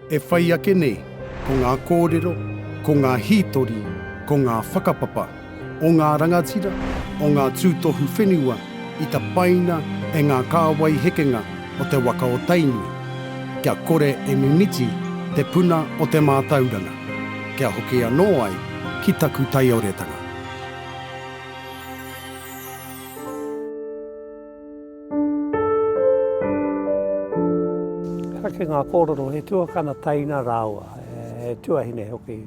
E whai ake nei, ko ngā kōrero, ko ngā hītori, ko ngā whakapapa o ngā rangatira, o ngā tūtohu whenua i tapaina e ngā kāwai hekenga o te waka o Tainui, kia kore e mimiti te puna o te mātauranga, kia hoki anō ai ki taku taioretanga. Kake ngā kōrero, he tuakana taina rāua, he tuahine hoki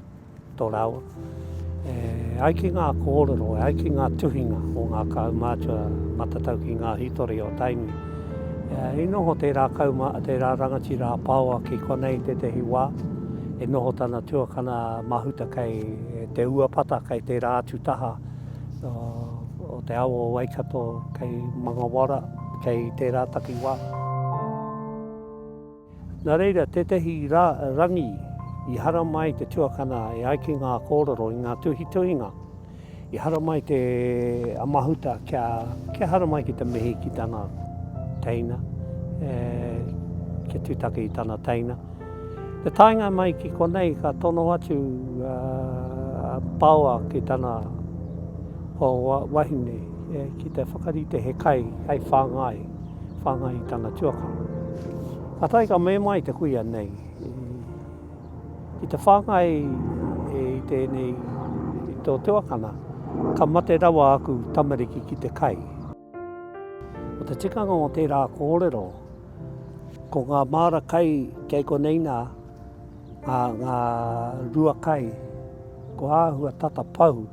tō rāua. E, ai ki ngā kōrero, ai ki ngā tuhinga o ngā kaumātua matatau ki ngā hitori o Tainui. E, I noho tērā, kauma, tērā rangatira a Paoa ki konei tētahi wā, e noho tana tuakana mahuta kei te uapata, kei tērā atu taha, o te awa o Waikato kei Mangawara, kei tērā takiwā. Nā reira, tētehi rā, rangi i haramai ai te tuakana e ai ki ngā kōrero i ngā tuhituhinga, i haramai te a Mahuta kia, kia haramai ki te mihi ki tana teina, e, kia tūtaki i tana teina. Te taenga mai ki konei ka tono atu a Paoa ki tana wahine ki te whakarite he kai hei whāngai, whāngai i tana tuakana. Kātahi ka mema ai te kuia nei, ki te whāngai i tēnei, i tō tuakana, ka mate rawa aku tamariki ki te kai. Ko te tikanga o tērā kōrero, ko ngā māra kai kei konei nā, ngā, ngā rua kai, ko āhua tata pau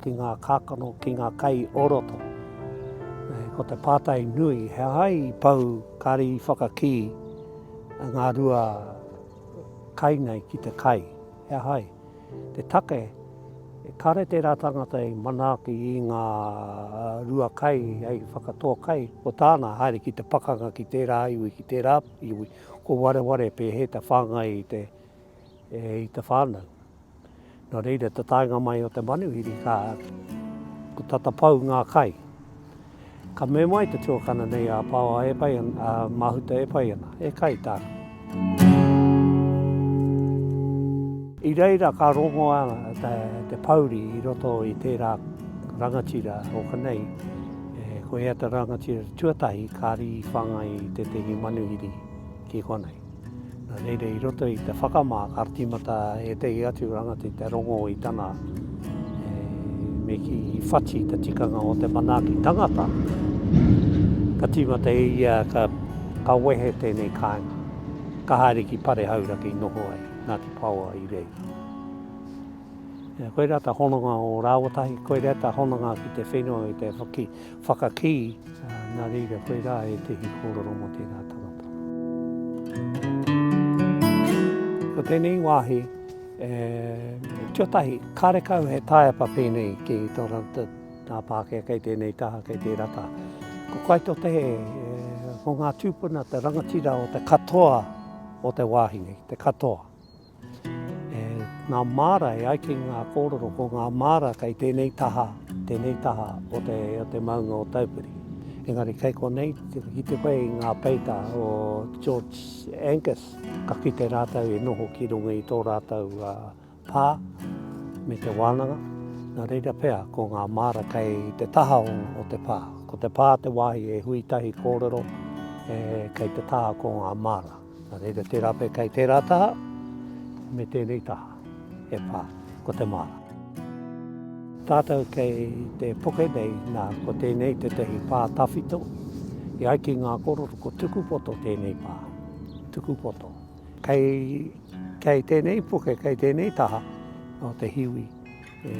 ki ngā kākano, ki ngā kai o roto. Ko te pātai nui, he aha i pau kāre i whakakī ngā rua kai nei ki te kai, he aha i? te take, e kare tērā tangata i manaaki i ngā rua kai hei whakatoa kai, ko tāna haere ki te pakanga ki tērā iwi, ki tērā iwi, ko wareware pēhea te whāngai i te, i te whānau. Nō reira, te taenga mai o te manuhiri ka, ko tata pau ngā kai. Ka mema ai te tuakana nei a Paoa e pai ana, a Mahuta e pai ana, e kai tāna. I reira ka rongoa te pouri i roto i tērā rangatira o Kanei, ko ea te rangatira tuatahi kāri i whāngai i tētehi manuhiri ki konei. Nā reira i roto i te whakamā ka tīmata ētehi atu rangatira te rongo i tana e, me ki whati te tikanga o te manaaki tangata. Ka tīmata e ia ka, ka wehe tēnei kāinga. Ka haere ki pare hauraki i noho ai, nā te paoa i reira. Koirā ta hononga o rāwatahi, koirā ta hononga ki te whenua i te whaki, Whakakī, nā reira koe rā ētehi kōrero mō tērā tangata. Ko tēnei wāhi, e, tio tahi, kāre kau he tāepa pēnei ki tō rātou tā Pākehā kei tēnei taha, kei tērā taha. Ko kai tō te he, e, ko ngā tūpuna te rangatira o te katoa o te wāhi nei, te katoa. E ngā māra, e ai ki ngā kōrero, ko ngā māra kei tēnei taha, tēnei taha o te, o te maunga o Taupiri. Engari kei konei, ki te whai i ngā peita o George Angus, ka kite rātou i noho ki runga i tō rātou pā me te wānanga, nā reira pea ko ngā māra kei te taha o te pā. Ko te pā te wāhi e hui tahi kōrero, e, kei te taha ko ngā māra. Nā reira, tērā pea kei tērā taha, me tēnei taha, e pā, ko te māra. Tātou kei te puke nei, nā, ko tēnei tētahi pā tawhito, e ai ki ngā kororo, ko Tukupoto tēnei pā, Tukupoto. Kei, kei tēnei puke, kei tēnei taha o te hiwi, e,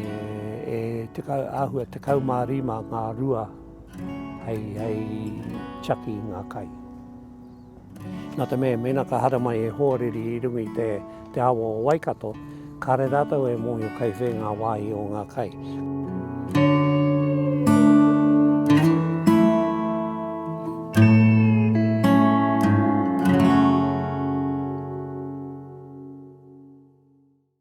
e tekau, āhua tekau mā rima ngā rua hei, hei tiaki i ngā kai. Nā te mea, mēnā ka haramai he hoariri i runga i te awa o Waikato, kāre rātou e mōhio kei whē ngā wāhi o ngā kai.